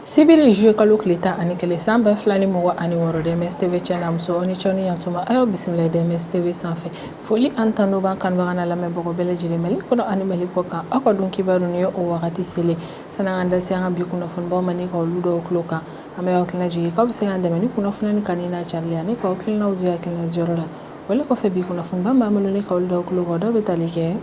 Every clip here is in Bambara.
sibiri zuye kalo tile tan ani kelen san ba fila ni mugan ani wɔɔrɔ dms tv cɛna muso ni cɛw ni yantuma a y'o bisimila dms tv sanfɛ foli ani tanu b'an kanubagaw n'an lamɛnbagaw bɛɛ lajɛlen mali kɔnɔ ani mali kɔ kan aw ka don kibaru nin ye o wagati selen sa n'an k'an da se an ka bi kunnafonibaw ma ni ka olu da aw tulo kan an bɛ aw hakilina jigin k'aw bɛ se k'an dɛmɛ ni kunnafoni nin kanuni n'a carili ani k'aw hakilinaw di hakilina diyɔrɔ la wale kɔfɛ bi kunnafoni ba b'an bolo ni ka olu da aw tulo kan dɔw bɛ tali kɛ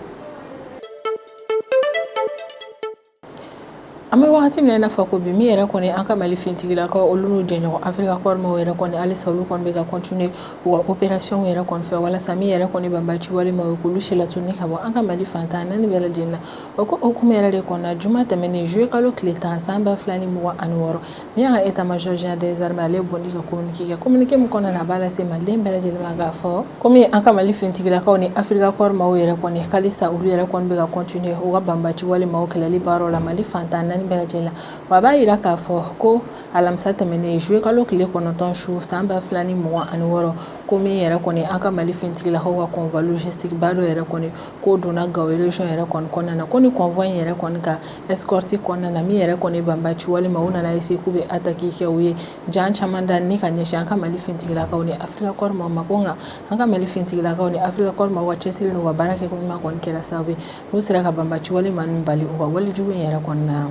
an bɛ wagati min na i n'a fɔ ko bi min yɛrɛ kɔni an ka mali fintigilakaw olu n'u jɛɲɔgɔn afirika kɔri maaw yɛrɛ kɔni halisa olu kɔni bɛ ka kɔntine u ka operasiyɔnw yɛrɛ kɔni fɛ walasa min yɛrɛ kɔni banbaci wale maaw ye k'olu silatunun ka bɔ an ka mali fantan naani bɛɛ lajɛlen na o ko hukumu yɛrɛ de kɔnɔna juma tɛmɛnen zuye kalo tile tan san ba fila ni mugan ani wɔɔrɔ Min y'an ka état-major général des armées ale bɔ ni ka kominike kɛ kominike min kɔnɔna na a b'a lase maliden bɛɛ lajɛlen ma k'a fɔ kɔmi an ka mali fintigilakaw ni afirika kɔri maaw yɛrɛ kɔni halisa olu yɛrɛ kɔni bɛ ka kɔntine u ka banbaci wale maaw kɛlɛli baaraw la mali fantan naani bɛɛ lajɛlen la wa a b'a jira k'a fɔ ko alamisa tɛmɛnen zuye kalo tile kɔnɔntɔn su san ba fila ni mugan ani wɔɔrɔ ko min yɛrɛ kɔni an ka mali fintigilakaw ka convoi logistique ba dɔ yɛrɛ kɔni k'o donna gao région yɛrɛ kɔnɔna na ko ni convoi in yɛrɛ kɔni ka escorte kɔnɔna na min yɛrɛ kɔni banbaci wale maaw nana eseye k'u bɛ ataki kɛ u ye jan caman da ni ka ɲɛsin an ka mali fintigilakaw ni afirika kɔri maaw ma ko nka an ka mali fintigilakaw ni afirika kɔri maaw ka cɛsiri n'u ka baara kɛ ko ɲuman kɔni kɛra sababu ye n'u sera ka banbaci wale maa ninnu bali u ka walejugu in yɛrɛ kɔnɔna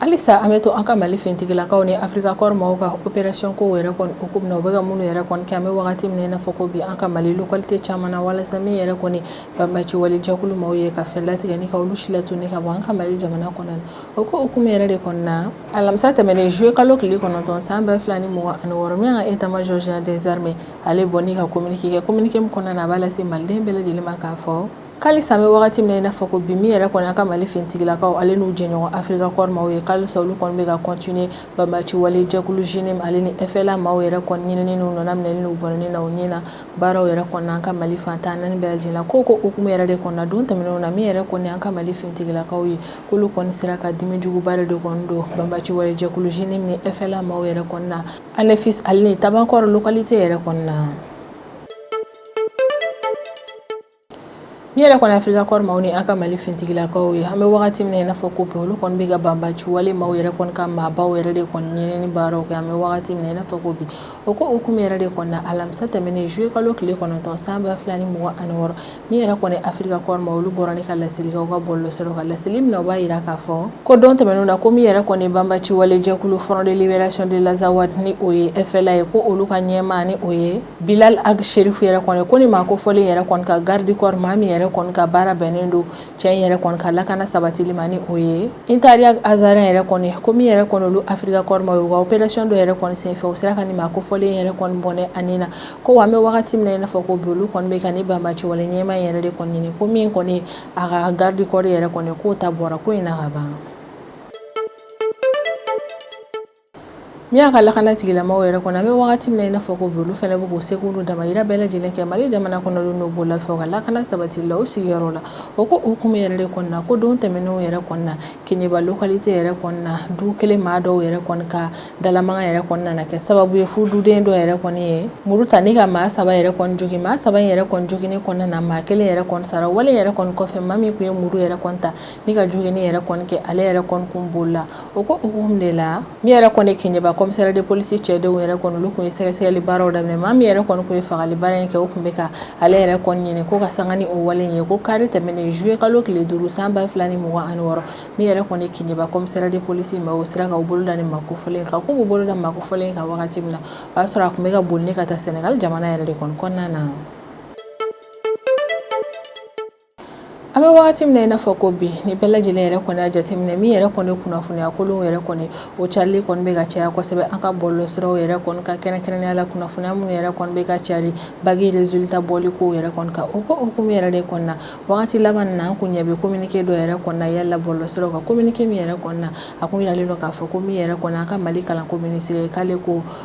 halisa an bɛ to an ka mali fintigilakaw ni afirika kɔri maaw ka operasiyɔn kow yɛrɛ kɔni hukumu na u bɛ ka minnu yɛrɛ kɔni kɛ an bɛ wagati min na i n'a fɔ ko bi an ka mali lokalite caman na walasa min yɛrɛ kɔni banbaci wale jɛkulu maaw ye ka fɛɛrɛ latigɛ ni ka olu silatunun ka bɔ an ka mali jamana kɔnɔ o ko hukumu yɛrɛ de kɔnɔna alamisa tɛmɛnen zuye kalo tile kɔnɔntɔn san ba fila ni mugan ani wɔɔrɔ min y'an ka état-major général des armées ale bɔ ni ka kominike kɛ kominike min kɔnɔna na a b'a lase maliden bɛɛ lajɛlen ma k'a fɔ Ko halisa an bɛ wagati min na i n'a fɔ ko bi min yɛrɛ kɔni an ka mali fintigilakaw ale n'u jɛɲɔgɔn afirika kɔri maaw ye ko halisa olu kɔni bɛ ka kɔntine banbaci wale jɛkulu JNIM ale ni FLA maaw yɛrɛ kɔni ɲinini n'u nɔna minɛni n'u bɔn na u ɲɛna baaraw yɛrɛ kɔni an ka mali fantan naani bɛɛ lajɛlen na o ko hukumu yɛrɛ de kɔnɔna don tɛmɛnenw na min yɛrɛ kɔni an ka mali fintigilakaw ye k'olu kɔni sera ka dimijuguba de kɔni don banbaci wale jɛkulu JNIM ni FLA maaw yɛrɛ kɔni na anefis ale ni tabankort lokalite yɛrɛ kɔnɔna na Min yɛrɛ kɔni afirika kɔri maaw ni an ka mali fintigilakaw ye an bɛ wagati min na i n'a fɔ ko bi olu kɔni bɛ ka banbaci wale maaw yɛrɛ kɔni ka maabaw yɛrɛ de kɔni ɲinini baaraw kɛ an bɛ wagati min na i n'a fɔ ko bi o ko hukumu yɛrɛ de kɔnɔna alamisa tɛmɛnen zuye kalo tile kɔnɔntɔn san ba fila ni mugan ani wɔɔrɔ min yɛrɛ kɔni afirika kɔri maaw olu bɔra ni ka laseli kɛ u ka bɔlɔsiraw kan laseli min na u b'a jira k'a fɔ ko don tɛmɛnenw na ko min yɛrɛ kɔni banbaci wale jɛkulu Front de Libération de l'Azawad ni o ye FLA ye ko olu ka ɲɛmaa ni o ye Bilal Ag Cherif yɛrɛ kɔni ko nin maa kofɔlen yɛrɛ kɔni ka garde du corps maa min yɛrɛ kɔni ka baara bɛnnen don cɛ in yɛrɛ kɔni ka lakana sabatili ma ni o ye Intariag Azarɛn yɛrɛ kɔni ko min yɛrɛ kɔni olu Afrika Corps maaw u ka operation dɔ yɛrɛ kɔni senfɛ u sera ka nin maa kofɔlen yɛrɛ kɔni bɔnɛ a ni na ko wa an bɛ wagati min na i n'a fɔ ko bi olu kɔni bɛ ka ni banbaciwale ɲɛmaa in yɛrɛ de kɔni ɲini ko min kɔni ye a ka garde du corps yɛrɛ kɔni k'o ta bɔra ko in na ka ban. Min an ka lakana tigilamaaw yɛrɛ kɔni an bɛ wagati min na i n'a fɔ ko bi olu fana bɛ k'u seko n'u damayira bɛɛ lajɛlen kɛ Mali jamana kɔnɔdenw n'u bololafɛnw ka lakana sabatili la u sigiyɔrɔ la o ko hukumu yɛrɛ de kɔnɔna na ko don tɛmɛnenw yɛrɛ kɔnɔna na Keɲeba localité yɛrɛ kɔnɔna na du kelen maa dɔw yɛrɛ kɔni ka dalamankan yɛrɛ kɔni nana kɛ sababu ye fo duden dɔ yɛrɛ kɔni ye muru ta ni ka maa saba yɛrɛ kɔni jogin maa saba in yɛrɛ kɔni joginni kɔnɔna na maa kelen yɛrɛ kɔni sara wale yɛrɛ kɔni kɔfɛ maa min tun ye muru yɛrɛ kɔni ta Ni ka joginni yɛrɛ kɔni kɛ ale yɛrɛ kɔni kun bolila o ko hukumu de la min yɛrɛ kɔni Keɲeba commissariat de police cɛdenw yɛrɛ kɔni olu tun ye sɛgɛsɛgɛli baaraw daminɛ maa min yɛrɛ kɔni tun ye fagali baara in kɛ o tun bɛ ka ale yɛrɛ kɔni ɲini ko ka sanga ni o wale ye ko kari tɛmɛnen juillet kalo tile duuru san ba fila ni mugan ani wɔɔrɔ min yɛrɛ kɔni Keɲeba commissariat de police maaw sera k'u bolo da nin maa kofɔlen kan k'u bolo da maa kofɔlen kan wagati min na o y'a sɔrɔ a tun bɛ ka boli ka taa Sénégal jamana yɛrɛ de kɔnɔna na An bɛ wagati min na i n'a fɔ ko bi ni bɛɛ lajɛlen yɛrɛ kɔni y'a jateminɛ min yɛrɛ kɔni kunnafoniya kolonw yɛrɛ kɔni o carili kɔni bɛ ka caya kosɛbɛ an ka bɔlɔlɔsiraw yɛrɛ kɔni kan kɛrɛnkɛrɛnnenya la kunnafoniya minnu yɛrɛ kɔni bɛ ka cari bac resultat bɔli kow yɛrɛ kɔni kan o ko hukumu yɛrɛ de kɔnɔna wagati laban nin na an kun ɲɛ bɛ communiqué dɔ yɛrɛ kɔnɔna yaala bɔlɔlɔsiraw kan communiqué min yɛrɛ kɔnɔna a kun yiralen don k'a fɔ ko min yɛrɛ kɔni an ka Mali kalanko minisiri k'ale ko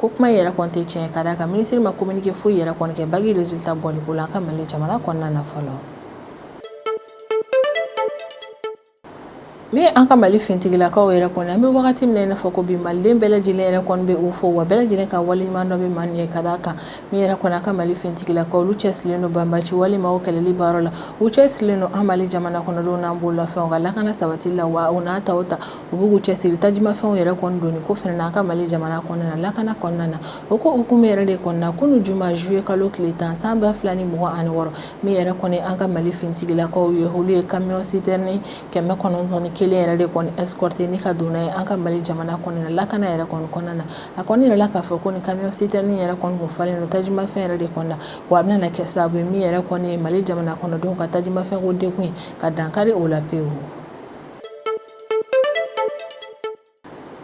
ko kuma yɛrɛ kɔni tɛ tiɲɛ ka d'a kan minisiri ma kominike foyi yɛrɛ kɔni kɛ bac resultat bɔli ko la an ka mali jamana kɔnɔna na fɔlɔ min an ka mali fintigilakaw yɛrɛ kɔni an bɛ wagati min na i n'a fɔ ko bi maliden bɛɛ lajɛlen yɛrɛ kɔni bɛ u fo wa bɛɛ lajɛlen ka waleɲumandɔn bɛ maa nin ye ka d'a kan min yɛrɛ kɔni an ka mali fintigilakaw olu cɛsirilen don banbaciwale maaw kɛlɛli baara la u cɛsirilen don an mali jamana kɔnɔdenw n'an bololafɛnw ka lakana sabatili la wa u n'a ta o ta u b'u cɛsiri tajimafɛnw yɛrɛ kɔni donni ko fana na an ka mali jamana kɔnɔna lakana kɔnɔna na o ko hukumu yɛrɛ de kɔnɔna kunu juma juillet kalo tile tan san ba fila ni mugan ani wɔɔrɔ min yɛrɛ kɔni an ka mali fintigilakaw ye olu ye camion citerne kɛmɛ kɔnɔntɔn ni kelen yɛrɛ de kɔni escorter ni ka don n'a ye an ka mali jamana kɔnɔna lakana yɛrɛ kɔni kɔnɔna na a kɔni yirala k'a fɔ ko ni camion citerne yɛrɛ kɔni kun falen don tajimafɛn yɛrɛ de kɔnɔna wa a bɛna kɛ sababu ye min yɛrɛ kɔni mali jamana kɔnɔdenw ka tajimafɛnko degun ka dankari o la pewu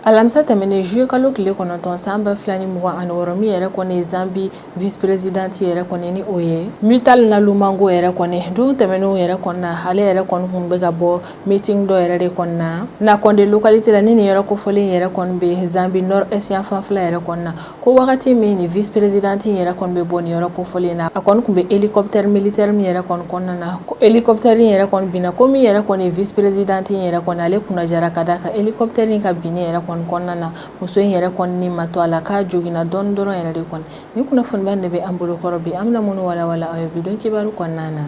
alamisa tɛmɛnen juillet kalo tile kɔnɔntɔn san ba fila ni mugan ani wɔɔrɔ min yɛrɛ kɔni zambi vice prezidanti yɛrɛ kɔni ni o ye Mutale Nalumango yɛrɛ kɔni don tɛmɛnenw yɛrɛ kɔni na ale yɛrɛ kɔni kun bɛ ka bɔ meeting dɔ yɛrɛ de kɔni na Nakonde localité la ni nin yɔrɔ kofɔlen yɛrɛ kɔni bɛ zambi nord est yan fanfɛla yɛrɛ kɔni na ko wagati min ni vice présidente in yɛrɛ kɔni bɛ bɔ nin yɔrɔ kofɔlen in na a kɔni kun bɛ hélicoptère militaire min yɛrɛ kɔni kɔnɔna na ko hélicoptère in yɛrɛ kɔni binna ko min yɛrɛ kɔni vice présidente in yɛrɛ kɔni ale kunnajara ka d'a kan hélicoptère in ka binni yɛrɛ kɔni kɔnɔna na muso in yɛrɛ kɔni ni ma to a la k'a joginna dɔɔni dɔrɔn yɛrɛ de kɔni nin kunnafoniba in de bɛ an bolo kɔrɔ bi an bɛna minnu walawala aw ye bi don kibaru kɔnɔna na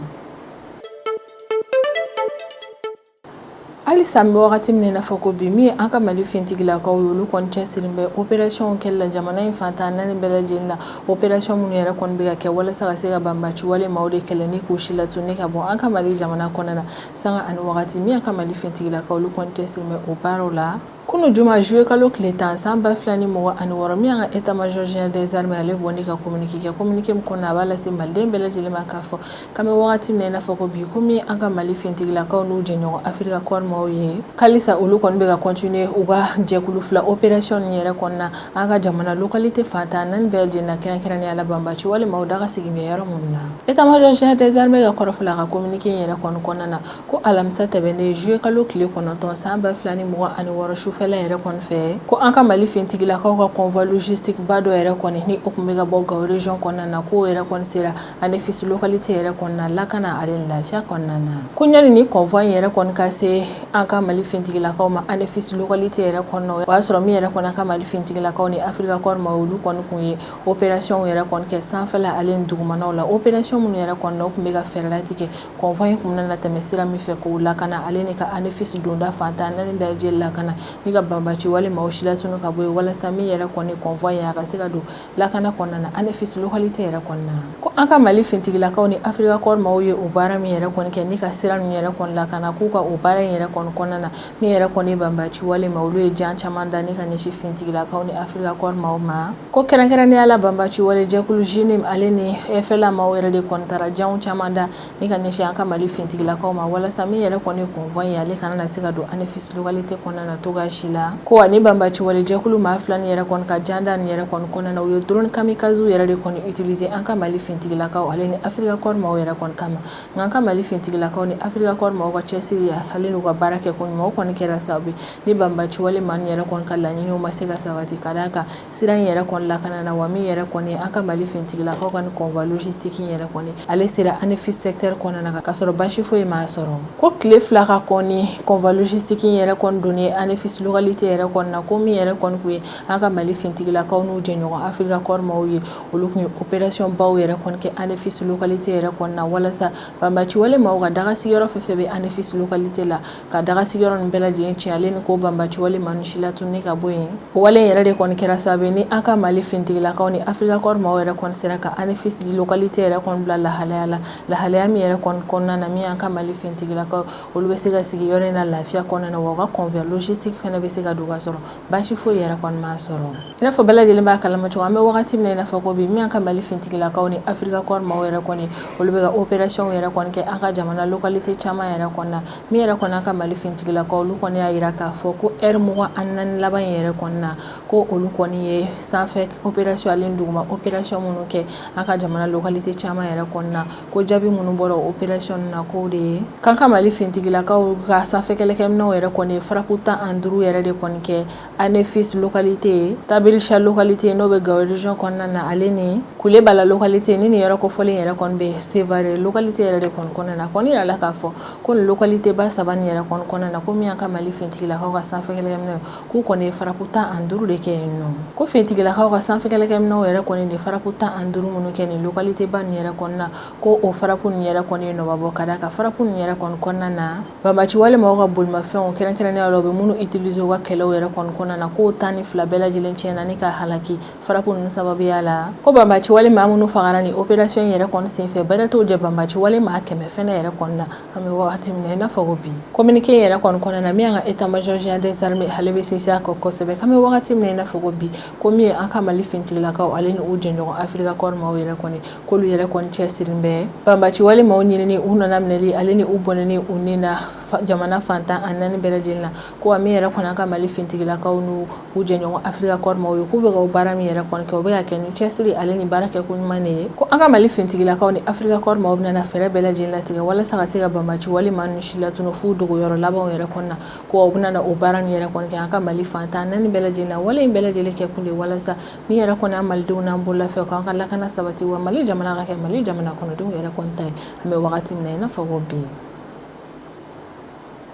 halisa an bɛ wagati min i n'a fɔ ko bi min ye an ka mali fintigilakaw ye olu kɔni cɛsirilen bɛ operasiyɔnw kɛli la jamana in fantan naani bɛɛ lajɛlen na operasiyɔn minnu yɛrɛ kɔni bɛ ka kɛ walasa ka se ka banbaci wale maaw de kɛlɛ ni k'u silatunu ni ka bɔ an ka mali jamana kɔnɔna sanga ani wagati min an ka mali fintigilakaw olu kɔni cɛsirilen bɛ o baaraw la Kunun juma zuye kalo tile tan san ba fila ni mugan ani wɔɔrɔ min an ka état major général des armées ale bɔlen ka communiqué kɛ communiqué min kɔnɔna a b'a lase maliden bɛɛ lajɛlen ma k'a fɔ k'an bɛ wagati min i n'a fɔ ko bi ko min an ka mali fintigilakaw n'u jɛɲɔgɔn afirika kɔɔri maaw ye halisa olu kɔni bɛ ka continuer u ka jɛkulu fila opération nin yɛrɛ kɔnɔna na an ka jamana localité fantan naani bɛɛ lajɛlen na kɛrɛnkɛrɛnnenya la banbaci wale maaw daga sigilen bɛ yɔrɔ minnu na état major général des armées ka kɔrɔfɔ la a ka communiqué yɛrɛ kɔnɔna na ko alamisa tɛmɛnen juillet kalo tile kɔnɔntɔn san ba fila ni mugan ani wɔɔrɔ sufɛla yɛrɛ kɔni fɛ ko an ka Mali fintigilakaw ka convoi logistique ba dɔ yɛrɛ kɔni ni o tun bɛ ka bɔ Gao region kɔnɔna na k'o yɛrɛ kɔni sera Anefisi localité yɛrɛ kɔnɔna lakana ale ni lafiya kɔnɔna na ko ɲani ni convoi in yɛrɛ kɔni ka se an ka Mali fintigilakaw ma Anefisi localité yɛrɛ kɔnɔna o y'a sɔrɔ min yɛrɛ kɔni an ka Mali fintigilakaw ni Africa Corps maaw olu kɔni tun ye opération yɛrɛ kɔni kɛ sanfɛla ale ni dugumanaw la opération minnu yɛrɛ kɔnɔna o tun bɛ ka fɛɛrɛ latigɛ convoi in kun na tɛmɛ sira min fɛ k'o lakana ale ni ka Anefisi donda fantan naani bɛɛ lajɛlen lakana ni ka banbaci wale maaw silatunu ka bɔ yen walasa min yɛrɛ kɔni convoi in a ka se ka don lakana kɔnɔna na Anefisi localité yɛrɛ kɔnɔna ko an ka mali fintigilakaw ni afirika kɔɔri maaw ye o baara min yɛrɛ kɔni kɛ ni ka sira ninnu yɛrɛ kɔni lakana k'u ka o baara in yɛrɛ kɔni kɔnɔna na Min yɛrɛ kɔni banbaci wale maaw olu ye jan caman da ni ka ɲɛsin fintigilakaw ni afirika kɔɔri maaw ma ko kɛrɛnkɛrɛnnenya la banbaci wale jɛkulu JNIM ale ni FLA maaw yɛrɛ de kɔni taara jan caman da ni ka ɲɛsin an ka mali fintigilakaw ma walasa min yɛrɛ kɔni convoi in ale kana na se ka don Anefisi localité kɔnɔna na cogoya si la ko ani banbaci wale jɛkulu maa fila nin yɛrɛ kɔni ka janda nin yɛrɛ kɔni kɔnɔna na u ye drone kamikaze yɛrɛ de kɔni utiliser an ka mali fintigilakaw ale ni afirika kɔɔri maaw yɛrɛ kɔni kama Nka an ka mali fintigilakaw ni afirika kɔɔri maaw ka cɛsiriya ale n'u ka baara kɛko ɲuman kɔni kɛra sababu ni banbaci wale maaw yɛrɛ kɔni ka laɲiniw ma se ka sabati ka d'a kan sira in yɛrɛ kɔni lakanana wa min yɛrɛ kɔni an ka mali fintigilakaw ka convoi logistique in yɛrɛ kɔni ale sera Anefisi secteur kɔnɔna na ka sɔrɔ basi foyi m'a sɔrɔ ko tile fila ka kɔn convoi logistique in yɛrɛ kɔni donni ɲɛ Anefisi localité yɛrɛ kɔnɔna na ko min yɛrɛ kɔni ye an ka mali fintigilakaw n'u jɛɲɔgɔn afirika kɔɔri maaw ye olu kɔni ye opération baw yɛrɛ kɔni kɛ ANEFIS localité yɛrɛ kɔni na walasa banbaci wale maaw ka daga sigiyɔrɔ fɛn fɛn bɛ ANEFIS localité la ka daga sigiyɔrɔ ninnu bɛɛ lajɛlen tiɲɛ ale ni k'o banbaci wale maa ninnu si latunu ka bɔ yen o wale in yɛrɛ de kɔni kɛra sababu ye ni an ka Mali finitigilakaw ni Africa Corps maaw yɛrɛ kɔni sera ka ANEFIS localité yɛrɛ kɔni bila lahalaya la lahalaya min yɛrɛ kɔni kɔnɔna na min y'an ka Mali finitigilakaw olu bɛ se ka sigi yɔrɔ in na lafiya kɔnɔna na wa u ka convoi logistique fana bɛ se ka don ka sɔrɔ Baasi foyi yɛrɛ kɔni ma sɔrɔ i n'a fɔ bɛɛ lajɛlen b'a kalama cogo an bɛ wagati min na i n'a fɔ ko bi min an ka mali fintigilakaw ni afirika kɔɔri maaw yɛrɛ kɔni olu bɛ opérationw yɛrɛ kɔni kɛ an ka jamana localité caman yɛrɛ kɔnɔna na min yɛrɛ kɔni an ka mali fintigilakaw olu kɔni y'a jira k'a fɔ ko heure mugan ani naani laban in yɛrɛ kɔnɔna na ko olu kɔni ye sanfɛ opération ale ni duguma opération minnu kɛ an ka jamana localité caman yɛrɛ kɔnɔna na ko jaabi minnu bɔra opération na k'o de ye k'an ka mali fintigilakaw ka sanfɛkɛlɛkɛminɛw yɛrɛ kɔni frappe tan ani duuru yɛrɛ de kɔni kɛ Anefis localité Tabrichat localité n'o bɛ Gao région kɔnɔna na ale ni Kulebala localité ni nin yɔrɔ kofɔlen yɛrɛ kɔni bɛ Sevare localité yɛrɛ de kɔni kɔnɔna na kɔni yirala k'a fɔ ko localité ba saba nin yɛrɛ kɔni kɔnɔna na ko min an ka mali fintigilakaw ka sanfɛkɛlɛkɛminɛw k'u kɔni ye frappe tan ani duuru de kɛ yen nɔ ko finitigilakaw ka sanfɛkɛlɛkɛminɛw yɛrɛ kɔni de frappe tan ani duuru minnu kɛ nin localité ba nin yɛrɛ kɔni na ko o frappe nin yɛrɛ kɔni ye nɔ ba bɔ ka d'a kan frappe nin yɛrɛ kɔni kɔnɔna na banbaci wale maaw ka bolimafɛnw kɛrɛnkɛrɛnnenya la u bɛ minnu utiliser u ka kɛlɛw yɛrɛ kɔni kɔnɔna na k'o tan ni fila bɛɛ lajɛlen tiɲɛna ni ka halaki frappe ninnu sababuya la ko banbaci wale maa minnu fagara ni opération yɛrɛ kɔni senfɛ bɛrɛ t'o jɛ banbaci wale maa kɛmɛ fɛnɛ yɛrɛ kɔni na an bɛ wagati min i n'a fɔ ko bi communiqué yɛrɛ kɔni kɔnɔna na min an ka état major général des armées ale bɛ sinsin a kan kosɛbɛ an bɛ wagati min i n'a fɔ ko bi ko min ye an ka mali fintigilakaw ale ni u jɛɲɔgɔn afirika kɔri maaw yɛrɛ kɔni k'olu yɛrɛ kɔni cɛsirin bɛ banbaci wale maaw ɲinini u nana minɛli ale ni u bɔnɛni u ni na jamana fantan ani naani bɛɛ lajɛlen na ko min yɛrɛ kɔni an ka mali fintigilakaw n n'u jɛɲɔgɔn afirika kɔri maaw ye k'u bɛ ka o baara min yɛrɛ kɔni kɛ u bɛ k'a kɛ ni cɛsiri ale ni baara kɛ ko ɲuman de ye ko an ka mali fintigilakaw ni afirika kɔri maaw bɛna fɛɛrɛ bɛɛ lajɛlen latigɛ walasa ka se ka banbaci wale maa ninnu si latunu f'u dogoyɔrɔ labanw yɛrɛ kɔnɔna na ko u bɛna o baara nin yɛrɛ kɔni kɛ an ka mali fantan naani bɛɛ lajɛlen na wale in bɛɛ lajɛlen kɛ kun de walasa min yɛrɛ kɔni an malidenw n'an bololafɛnw k'an ka lakana sabati wa mali jamana ka kɛ mali jamana kɔnɔdenw yɛrɛ kɔni ta ye an bɛ wagati min na i n'a fɔ ko bi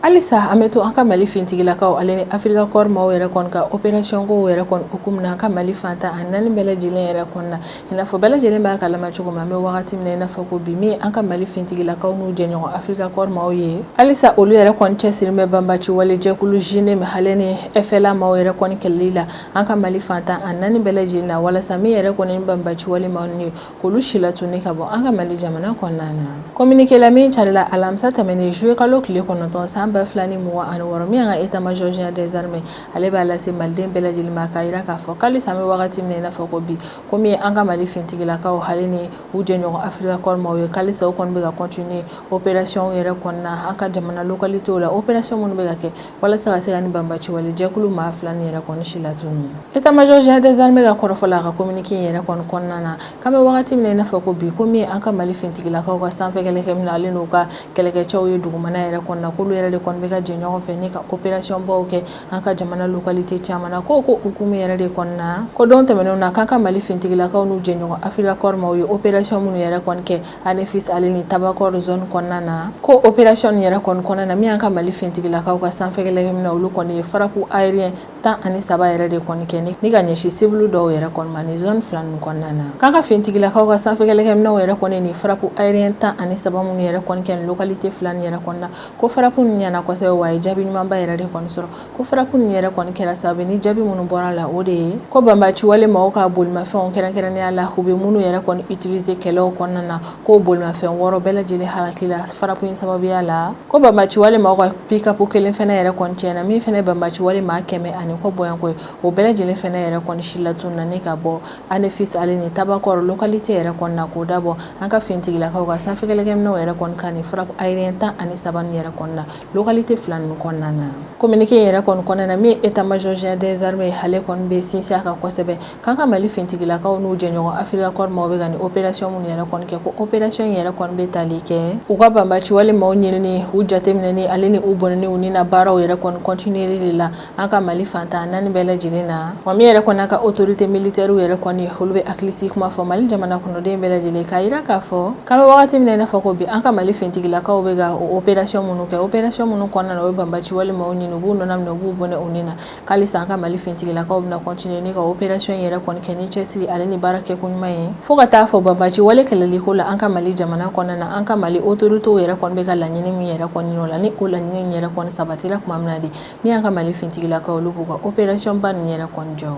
halisa an bɛ to an ka mali fintigilakaw ale ni afirika kɔɔri maaw yɛrɛ kɔni ka opɛrasiyɔnkow yɛrɛ kɔni hukumu na an ka mali fantan a naani bɛɛ lajɛlen yɛrɛ kɔni na i n'a fɔ bɛɛ lajɛlen b'a kalama cogo min an bɛ wagati min na i n'a fɔ ko bi min an ka mali fintigilakaw n'u jɛɲɔgɔn afirika kɔɔri maaw ye halisa olu yɛrɛ kɔni cɛsirin bɛ banbaci wale jɛkulu JNIM ale ni FLA maaw yɛrɛ kɔni kɛlɛli la an ka mali fantan a naani bɛɛ lajɛlen na walasa min yɛrɛ kɔni banbaci wale maaw ye K'olu si latunun ni ka bɔ an ka mali jamana kɔnɔna na communiqué la min carila alamisa tɛmɛnen juillet kalo tile kɔnɔntɔn san ba fila ni mugan ani wɔɔrɔ min y'an ka état-major général des armées ale b'a lase maliden bɛɛ lajɛlen ma k'a jira k'a fɔ k'alisa an bɛ wagati min na i n'a fɔ ko bi ko min ye an ka mali fintigilakaw ale ni u jɛɲɔgɔn afirika kɔɔri maaw ye k'alisa u kɔni bɛ ka continuer opération yɛrɛ kɔni na an ka jamana localitéw la opération minnu bɛ ka kɛ walasa ka se ka ni banbaciwale jɛkulu maa fila nin yɛrɛ kɔni si latunun état-major général des armées ka kɔrɔfɔ la a ka kominike in yɛrɛ kɔni kɔnɔna na k'an bɛ wagati min na i n'a fɔ ko bi ko min ye an ka mali fintigilakaw ka sanfɛ kɛlɛkɛminɛn ale n'u ka kɛlɛkɛcɛw ye dugumana yɛrɛ kɔni na k'olu yɛrɛ de kɔni bɛ ka jɛ ɲɔgɔn fɛ ni ka operasiyɔnbaw kɛ an ka jamana lokalite caman na k'o ko hukumu yɛrɛ de kɔnɔna na ko don tɛmɛnenw na k'an ka mali fintigilakaw n'u jɛɲɔgɔn afirika kɔɔri maaw ye operasiyɔn minnu yɛrɛ kɔni kɛ Anefis ale ni Tabankort zone kɔnɔna na ko opération nin yɛrɛ kɔni kɔnɔna na min y'an ka mali fintigilakaw ka sanfɛkɛlɛkɛminɛn olu kɔni ye frappe aérien tan ani saba yɛrɛ de kɔni kɛ ni ka ɲɛsin cible dɔw yɛrɛ kɔni ma ni zone fila ninnu kɔnɔna na k'an ka fintigilakaw ka sanfɛkɛlɛkɛminɛnw yɛrɛ kɔni nin frappe aérien tan ani saba minnu yɛrɛ kɔni kɛ localité fila nin yɛrɛ kɔni na ko frappe nin ɲɛna kosɛbɛ wa a ye jaabi ɲumanba yɛrɛ de kɔni sɔrɔ ko frappe ninnu yɛrɛ kɔni kɛra sababu ni jaabi minnu bɔra la o de ye ko banbaciwale maaw ka bolimafɛnw kɛrɛnkɛrɛnnenya la u bɛ minnu yɛrɛ kɔni utiliser kɛlɛw kɔnɔna na ko bolimafɛn wɔɔrɔ bɛɛ lajɛlen halakila frappe in sababuya la ko banbaciwale maaw ka pick-up kelen fɛnɛ yɛrɛ kɔni tiɲɛna min fɛnɛ ye banbaciwale maa kɛmɛ ani kɔ bɔɲɔgɔnko ye o bɛɛ lajɛlen fɛnɛ yɛrɛ kɔni si latununna ni ka bɔ Anefis ale ni Tabankort localité yɛrɛ kɔni na k'o dabɔ an ka finitigilakaw ka sanfɛkɛlɛkɛminɛnw yɛrɛ kɔni ka nin frappe aérien tan ani saba ninnu yɛrɛ kɔni na Localité fila ninnu kɔnɔna na communiqué yɛrɛ kɔni kɔnɔna na min ye état-major général des armées ale kɔni bɛ sinsin a kan kosɛbɛ k'an ka mali fintigilakaw n'u jɛɲɔgɔn afirika kɔɔri maaw bɛ ka nin opération minnu yɛrɛ kɔni kɛ ko opération in yɛrɛ kɔni bɛ tali kɛ u ka banbaciwale maaw ɲinini u jateminɛni ale ni u bɔnɛni u ni na baaraw yɛrɛ kɔni continueli de la an ka mali fan tan naani bɛɛ lajɛlen na wa min yɛrɛ kɔni an ka autorité militaire yɛrɛ kɔni olu bɛ hakilisigi kuma fɔ mali jamana kɔnɔden bɛɛ lajɛlen k'a jira k'a fɔ k'an bɛ wagati min na i n'a fɔ ko bi an ka mali fintigilakaw bɛ ka opération minnu kɛ opération minnu kɔnɔna na u bɛ banbaci wale maaw ɲini u b'u nɔna minɛ u b'u bɔnɛ u ni na k'alisa an ka mali fintigilakaw bɛna continuer ni ka opération in yɛrɛ kɔni kɛ ni cɛsiri ale ni baara kɛ koɲuman ye fo ka taa fɔ banbaci wale kɛlɛliko la an ka mali jamana kɔnɔna na an ka mali autorité yɛrɛ kɔni bɛ ka laɲini min yɛrɛ kɔni ɲini u la ni o laɲini yɛrɛ kɔni sabatira tuma min na de Min y'an ka mali fintigilakaw olu b'u ka opérationba ninnu yɛrɛ jɔ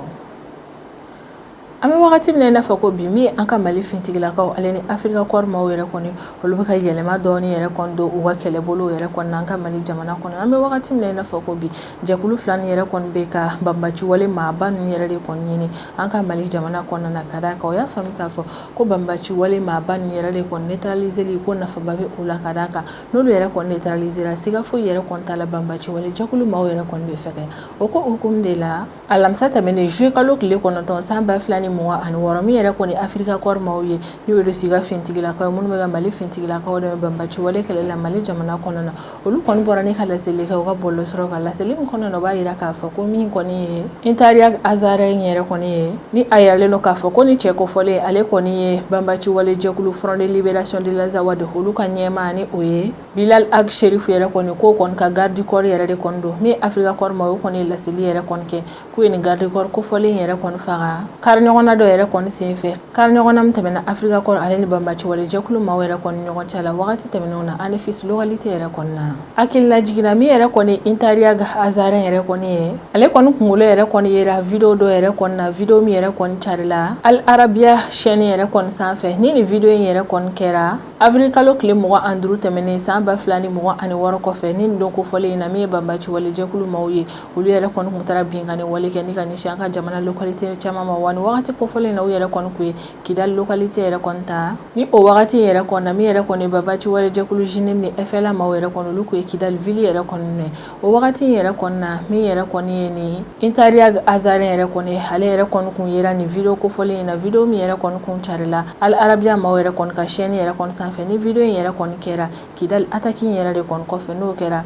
an bɛ wagati min na i n'a fɔ ko bi min an ka mali fintigilakaw ale ni afirika kɔɔri maaw yɛrɛ kɔni olu bɛ ka yɛlɛma dɔɔni yɛrɛ don u ka kɛlɛbolo yɛrɛ kɔnɔ an ka mali jamana kɔnɔ an bɛ wagati min na i n'a fɔ ko bi jɛkulu fila nin yɛrɛ kɔni bɛ ka banbaciwale maaba ninnu yɛrɛ de kɔni ɲini an ka mali jamana kɔnɔna na ka d'a kan u y'a faamuya k'a fɔ ko banbaciwale maaba ninnu yɛrɛ de kɔni neutraliseli ko nafaba bɛ o la ka d'a kan n'olu yɛrɛ kɔni neutralisera siga foyi yɛrɛ kɔni t'a la banbaaci wale jɛkulu maaw yɛrɛ kɔni bɛ fɛ o ko hukumu de la alamisa tɛmɛnen juillet kalo tile kɔnɔntɔn san ba fila ni mugan ani wɔɔrɔ min yɛrɛ kɔni Afrika Corps maaw ye n'o ye Russie ka finitigilakaw minnu bɛ ka Mali finitigilakaw dɛmɛ banbaaci wale kɛlɛli la Mali jamana kɔnɔ na olu kɔni bɔra ni ka laseli kɛ u ka bɔlɔsɔrɔ kan laseli min kɔnɔ na o b'a jira k'a fɔ ko min kɔni ye Intariag Azarɛn yɛrɛ kɔni ye ni a yiralen don k'a fɔ ko ni cɛ kofɔlen in ale kɔni ye banbaci wale jɛkulu Front de Libération de l'Azawad olu ka ɲɛmaa ni o ye Bilal Ag Sherif yɛrɛ kɔni k'o kɔni ka garde du corps yɛrɛ de kɔni don min Afrika Corps maaw kɔni ye laseli yɛrɛ kɔni kɛ k'u ye nin garde du corps kofɔlen in yɛrɛ kɔni faga kari ɲɔgɔnna dɔ yɛrɛ kɔni sen fɛ kari ɲɔgɔnna min tɛmɛna Afrika Corps ale ni banbaci wale jɛkulu maaw yɛrɛ kɔni ɲɔgɔn cɛ la wagati tɛmɛnenw na Anefis localité yɛrɛ kɔni na Hakililajigin na min yɛrɛ kɔni Intariag Azarɛn yɛrɛ kɔni ye ale kɔni kunkolo yɛrɛ kɔni yera video dɔ yɛrɛ kɔni na video min yɛrɛ kɔni carila Al Arabiya chaine yɛrɛ kɔni sanfɛ ni nin video in yɛrɛ kɔni kɛra avril kalo tile mugan ani duuru tɛmɛnen san ba fila ni mugan ani wɔɔrɔ kɔfɛ ni don kofɔlen in na min ye banbaci wale jɛkulu maaw ye olu yɛrɛ kɔni tun taara binkanni wale kɛ ni ka ɲɛsin an ka jamana localité caman ma wa ni wagati kofɔlen in na u yɛrɛ kɔni tun ye Kidali localité yɛrɛ kɔni ta, ni o wagati yɛrɛ kɔni na, min yɛrɛ kɔni ye banbaci wale jɛkulu JNIM ni FLA maaw yɛrɛ kɔni olu tun ye Kidali ville yɛrɛ kɔni minɛ, o wagati yɛrɛ kɔni na, min yɛrɛ kɔni ye nin Intariag Azarɛn yɛrɛ kɔni ye, ale yɛrɛ kɔni tun yera nin video kofɔlen in na, video min yɛrɛ kɔni tun carila Al Arabiya maaw yɛrɛ kɔni ka chaine yɛrɛ kɔni sanfɛ, ni video in yɛrɛ kɔni kɛra Kidali attaque in yɛrɛ de kɔni kɔfɛ, n'o kɛra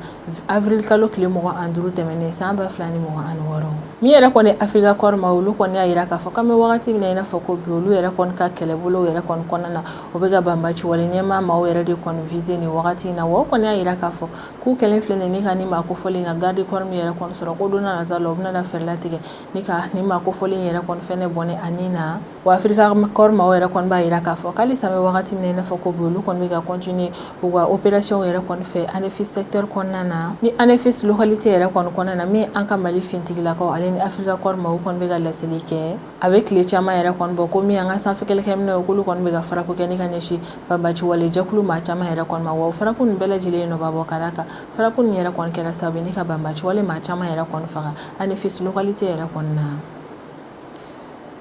Avril kalo tile mugan ani duuru tɛmɛnen san ba fila ni mugan ani wɔɔrɔ min yɛrɛ kɔni Africa Corps maaw olu kɔni y'a jira k'a fɔ k'an bɛ wagati min na i n'a fɔ ko bi olu yɛrɛ kɔni ka kɛlɛbolo yɛrɛ kɔni kɔnɔna na o bɛ ka banbaci wale ɲɛmaa maaw yɛrɛ de kɔni viser nin wagati in na wa o kɔni y'a jira k'a fɔ k'u kɛlen filɛ ni ka nin maa kofɔlen ka garde corps min yɛrɛ kɔni sɔrɔ ko don nataw la u bɛna fɛɛrɛ latigɛ ni ka nin maa kofɔlen yɛrɛ kɔni fɛnɛ bɔnɛ a ni na Wa Afrika Corps maaw yɛrɛ kɔni b'a jira k'a fɔ ko hali sa an bɛ wagati min na i n'a fɔ ko bi olu kɔni bɛ ka continuer u ka opération yɛrɛ kɔni fɛ ANEFIS secteur kɔnɔna na ni ANEFIS localité yɛrɛ kɔni kɔnɔna na min an ka Mali finitigilakaw ale ni Afrika Corps maaw kɔni bɛ ka laseli kɛ a bɛ tile caman yɛrɛ kɔni bɔ ko min an ka sanfɛ kɛlɛkɛminɛw k'olu kɔni bɛ ka frappe kɛ ni ka ɲɛsin banbaciwale jɛkulu maa caman yɛrɛ kɔni ma wa o frappe nin bɛɛ lajɛlen ye nɔba bɔ ka d'a kan frappe nin yɛrɛ kɔni kɛra sababu ye ni ka banbaciwale maa caman yɛrɛ kɔni faga ANEFIS localité yɛrɛ kɔni na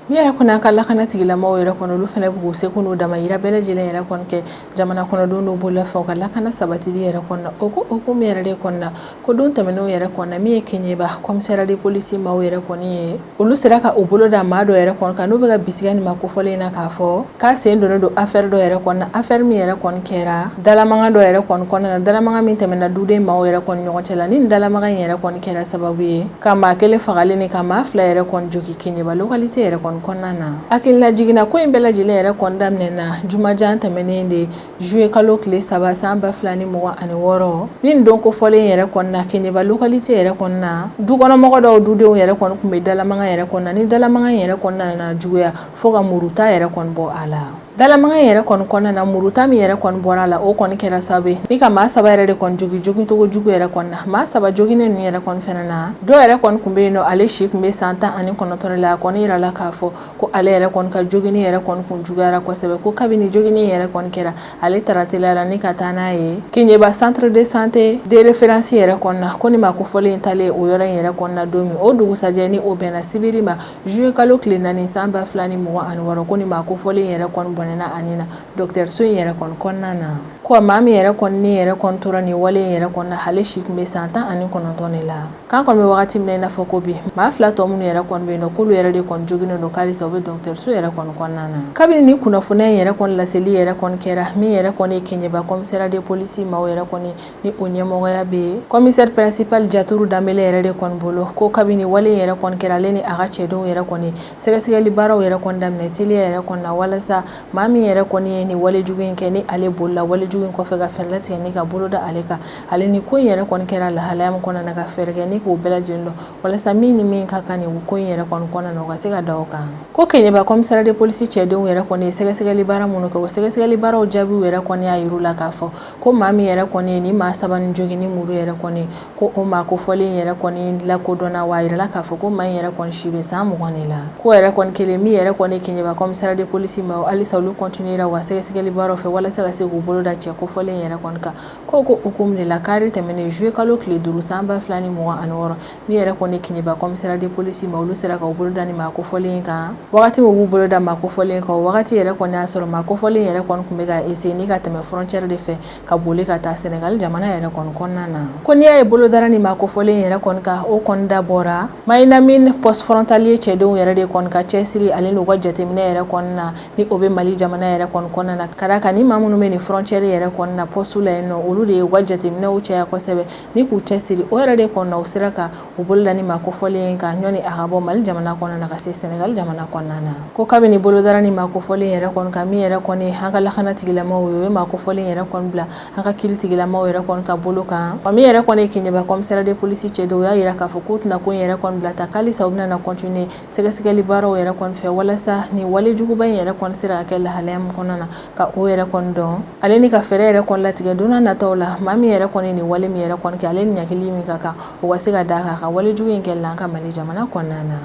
Min yɛrɛ kɔni an ka lakana tigilamɔgɔw yɛrɛ kɔni olu fana b'u seko n'u damayira bɛɛ lajɛlen yɛrɛ kɔni kɛ jamana kɔnɔdenw n'u bolola fɛnw ka lakana sabatili yɛrɛ kɔni na o ko hukumu yɛrɛ de kɔni na ko don tɛmɛnenw yɛrɛ kɔni na min ye Kéniéba commissariat de police maaw yɛrɛ kɔni ye olu sera ka u bolo da maa dɔ yɛrɛ kɔni kan n'u bɛ ka bisigiya nin maa kofɔlen in na k'a fɔ K'a sen donnen don afɛri dɔ yɛrɛ kɔni na afɛri min yɛrɛ kɔni kɛra dalamagan dɔ yɛrɛ kɔni kɔnɔna na dalamagan min tɛmɛna duden maaw yɛrɛ kɔni ɲɔgɔn cɛ la ni dalamagan in yɛrɛ kɔni kɛra sababu ye ka maa kelen fagalen ni ka maa fila yɛrɛ kɔni jogin Keɲeba localité yɛrɛ kɔni kɔnɔna na hakililajigin na ko in bɛɛ lajɛlen yɛrɛ kɔni daminɛna jumajan tɛmɛnen de zuye kalo tile saba san ba fila ni mugan ani wɔɔrɔ ni don kofɔlen yɛrɛ kɔni na Keɲeba localité yɛrɛ kɔni na dukɔnɔmɔgɔ dɔw dudenw yɛrɛ kɔni tun bɛ dalamagan yɛrɛ kɔni na ni dalamagan yɛrɛ kɔni nana juguya Fo ka muruta yɛrɛ kɔni bɔ a la dalamagan in yɛrɛ kɔni kɔnɔna na muruta min yɛrɛ kɔni bɔra a la o kɔni kɛra sababu ye ni ka maa saba yɛrɛ de kɔni jogin jogincogo jugu yɛrɛ kɔni na maa saba joginnen ninnu yɛrɛ kɔni fana na dɔw yɛrɛ kɔni tun bɛ yen nɔ ale si tun bɛ san tan ani kɔnɔtɔn la a kɔni jirala k'a fɔ ko ale yɛrɛ kɔni ka joginni yɛrɛ kɔni tun juguyara kosɛbɛ ko kabini joginni yɛrɛ kɔni kɛra ale taara teliya la ni ka taa n'a ye Keɲeba centre de santé de référence yɛrɛ kɔni na ko nin maa kofɔlen in taalen o yɔrɔ in yɛrɛ kɔni na don min o dugusɛjɛ ni o bɛnna sibiri ma Zuye kalo tile naani san ba fila ni mugan ani wɔɔrɔ ko nin maa kofɔlen yɛrɛ kɔni bɔnɛna a ni na dɔgɔtɔrɔso in yɛrɛ kɔni kɔnɔna na ko maa min yɛrɛ kɔni ni yɛrɛ kɔni tora nin wale in yɛrɛ kɔni na ale si tun bɛ san tan ani kɔnɔntɔn de la k'an kɔni bɛ wagati min na i n'a fɔ ko bi maa fila tɔ minnu yɛrɛ kɔni bɛ yen nɔ k'olu yɛrɛ de kɔni joginnen don k'alisa u bɛ dɔgɔtɔrɔso yɛrɛ kɔni kɔnɔna na kabini ni kunnafoniya in yɛrɛ kɔni laseli yɛrɛ kɔni kɛra min yɛrɛ kɔni ye Keɲeba commissariat de police maaw yɛrɛ kɔni ni o ɲɛmɔgɔya bɛ commissaire principal Jaturu Danbele yɛrɛ de kɔni bolo ko kabini wale in yɛrɛ kɔni kɛra ale ni a ka cɛdenw yɛrɛ kɔni sɛgɛsɛgɛli baaraw yɛrɛ kɔni daminɛ teliya yɛrɛ kɔni na walasa maa min yɛrɛ kɔni ye nin wale jugu in kɛ ni ale bolila wale jugu in kɔfɛ ka fɛɛrɛ latigɛ ni ka bolo da ale kan ale ni ko in yɛrɛ kɔni kɛra lahalaya min kɔnɔna na ka fɛɛrɛ kɛ ni k'o bɛɛ lajɛlen dɔn walasa min ni min ka kan nin ko in yɛrɛ kɔni kɔnɔna na o ka se ka da o kan ko Keɲeba commissariat de police cɛdenw yɛrɛ kɔni ye sɛgɛsɛgɛli baara minnu kɛ o sɛgɛsɛgɛli baaraw jaabiw yɛrɛ kɔni y'a yir'u la k'a fɔ Ko maa min yɛrɛ kɔni ye nin maa saba nin jogin ni muru yɛrɛ kɔni ko o maa kofɔlen yɛrɛ kɔni lakodɔnna wa a jirala k'a fɔ ko maa in yɛrɛ kɔni si bɛ san mugan de la ko yɛrɛ kɔni kɛlen min yɛrɛ kɔni Keɲeba commissariat de police maaw halisa olu kɔntinuela u ka sɛgɛsɛgɛli baaraw fɛ walasa ka se k'u bolo da cɛ kofɔlen yɛrɛ kɔni kan ko k'o hukumu de la kari tɛmɛnen zuye kalo tile duuru san ba fila ni mugan ani wɔɔrɔ Min yɛrɛ kɔni ye Keɲeba commissariat de police maaw olu sera ka bolo da nin maa kofɔlen kan wagati u b'u bolo da maa kofɔlen kan wagati yɛrɛ kɔni y'a sɔrɔ maa kofɔlen yɛrɛ kɔni tun bɛ ka essayer ni ka tɛmɛ frontière de fɛ ka boli ka taa Senegali jamana yɛrɛ kɔni kɔnɔna na ko n'i y'a ye bolo dara nin maa kofɔlen yɛrɛ kɔni kan o kɔni dabɔra Mahinamine poste frontalier cɛdenw yɛrɛ de kɔni ka cɛsiri ani n'u ka jateminɛ yɛrɛ kɔni na ni o bɛ Mali jamana yɛrɛ kɔni kɔnɔna na ka fara a kan nin maa minnu bɛ nin frontière yɛrɛ kɔni na pɔsitiw la yen nɔ olu de y'u ka jateminɛw caya kosɛbɛ Ni k'u cɛsiri o yɛrɛ de kɔni na u sera ka u bolo da nin maa kofɔlen in kan ɲɔni a ka bɔ Mali jamana kɔnɔna na ka se Senegali jamana kɔnɔna na ko kabini bolo dara nin maa kofɔlen yɛrɛ kɔni kan min yɛrɛ kɔni ye an ka lakanatigilamaw ye u ye maa kofɔlen yɛrɛ kɔni bila an ka kiritigilamaw yɛrɛ kɔni ka bolo kan wa min yɛrɛ kɔni ye Keɲeba commissariat de police cɛdenw u y'a jira k'a fɔ k'u tɛna ko yɛrɛ kɔni bila tan k'alisa u bɛna na cotte sɛgɛsɛgɛli baaraw yɛrɛ kɔni fɛ walasa nin walejuguba in yɛrɛ kɔni sera ka kɛ lahalaya min kɔnɔna na ka o yɛrɛ kɔni dɔn ale ni ka fɛɛrɛ yɛrɛ kɔni latigɛ don nataw la maa min yɛrɛ kɔni nin wale min yɛrɛ kɔni kɛ ale ni ɲangili min ka kan o ka se ka da a kan ka walejugu in kɛlɛ an ka mali jamana kɔnɔna na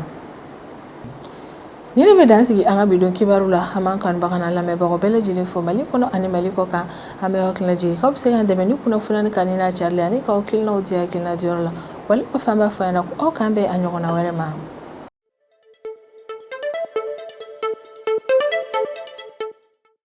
Nin bɛ dan sigi an ka bi don kibaru la an b'an kanbaga lamɛnbagaw bɛɛ lajɛlen fo mali kɔnɔ ani mali kɔkan an bɛ yɔrɔjɛ aw bɛ se k'an dɛmɛ ni kunnafoni ka ni n'a caya la ani k'aw hakilinaw di hakilina diyɔrɔ la wali o fan b'a fɔ ɲɛna ko aw k'an bɛn a ɲɔgɔnna wɛrɛ ma